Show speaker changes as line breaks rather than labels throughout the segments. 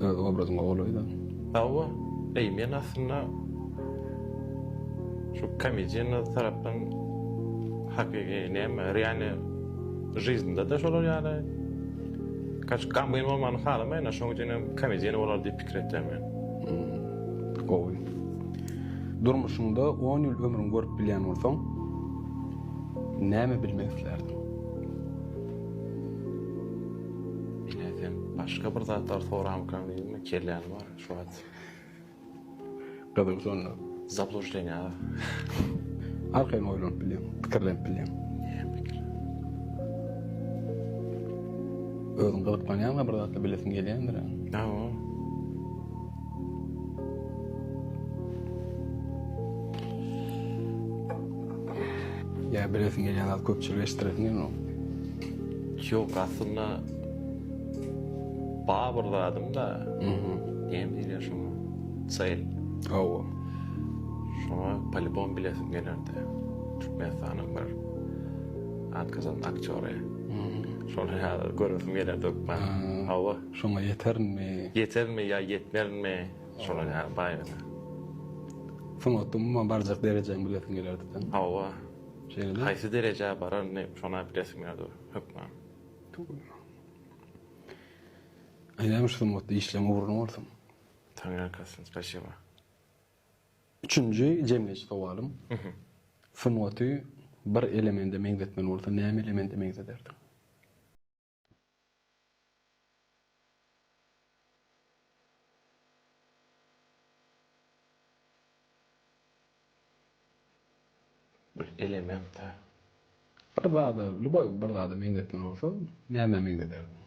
Öz obrazyňa golaýda. Hawa, eý men aslynda şu komediýa tarapdan hakyky näme realnyý žyzdnda-da şolar ýaly kaç gamgyn bolmagyny halamaýyn-a şoň üçin hem komediýa bolar diýip pikir etýän men. Hmmm gowy. Durmuşyňda on ýyl ömrüň görüp bilýän bolsaň näme bilmek islärdiň? Ine sen başga bir zatlar soramykan diýdim, kelläni bar şu wagt. Gyzyň şonda. Zablujdenýa. Arkaýyn oýlanyp bilýän, pikirlenip bilýän. Özüň gyzyklanýaňa bir zatlar bilesiň gelýändir. Hawa. Ýa bilesiň gelýän zat köpçülige eşitdiresiň gelmok. Ýok, aslynda bar bir zadym-da. Mhm. Näme diýilýär şoňa? Çel. Hawa. Şoňa polibom bilesim gelerdi. Türkmenistanyň bir atgazan aktýory. Mhm. Şony häzir göresim gelerdi hökman. Hawa. Şoňa ýeterinmi? Ýeterinmi ýa ýetmerinmi? Şolar ýaly baýryna. Sungatda umuman barjak derejäňi bilesiň gelerdi sen. Hawa. Şeýlemi? Haýsy derejä bararyny şona bilesiň gelýär dur, hökman. Aýdäýme şu sungatda işleň ugruna bolsun. Taňryýalkasyn, spaşiba. Üçünji jemleýji sowalym. Sungaty bir elemende meňzetmeli bolsaň, näme elemende meňzederdiň? Bir elemente. Bir zada, lýuboý bir zada meňzetmeli bolsa, nämä meňzederdiň?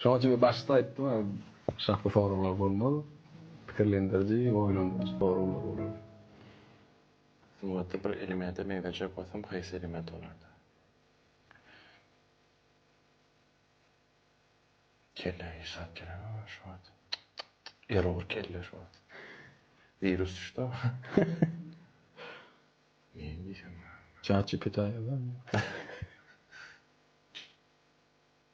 Şonuň üçin men başda aýtdym, aşakda soraglar bolmaz, pikirlendiriji, oýlandyryjy soraglar bolar. Sungatda bir elemede meňzejek bolsam haýsy element bolardy? Kelle işap gerek aga şu wagt. Erur kelle şu wagt. Wirus düşdi aga. Neýin diýsem bolýar? Chat GPT-a ýazar.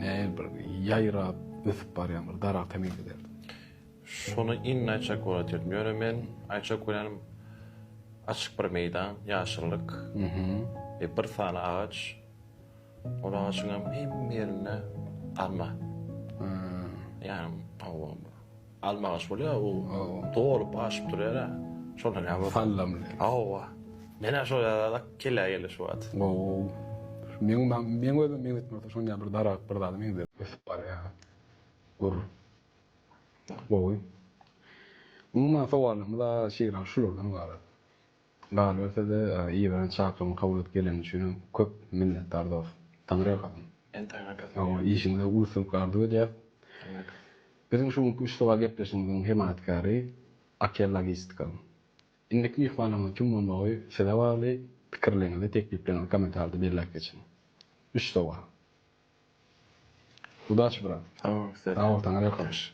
Näil bir ýaýrap ösüp barýan bir daragta meňzederdi. Şony indi aýtjak bolat edin. Ýöne men aýtjak bolýanym açyk bir meýdan, ýaşyllyk we bir sany agaç. Ol agaçyňam hemme ýerinde alma. Ýa hawa. Alma agaç bolýa bu dolup aşyp durýar a şonda näme bolýa. Sallamly. Hawa. Menä şo ýaly kellä geldi şu wagt. Wow. Meň meň özüm meň etmese şon ýaly bir daragt bir zada meňzär. Ösüp barýa. Gür. Gowy. Umuman sowallarymyz şeýle şulardan ybarat. Galberse-de Iwan çakyrymy kabul edip geleni üçin köp minnetdar dos. Taňry ýalkasyn. Sen taňry ýalkasyn. Sag bol. Işiňde uly-üstünlik arzuw edýäs. Taňry ýalkasyn. Biziň şu günki üçlüga gepleşigimiziň hemaýatkäri Akel Logistika. Indiki myhmanymyzyň kim bolmagy size bagly, pikirleriňizi, tekliplerňizi kommentarda belläp geçiň. Üçlüga. Udaçi brat. Sag bol size-de. Sag bol, taňry ýalkasyn.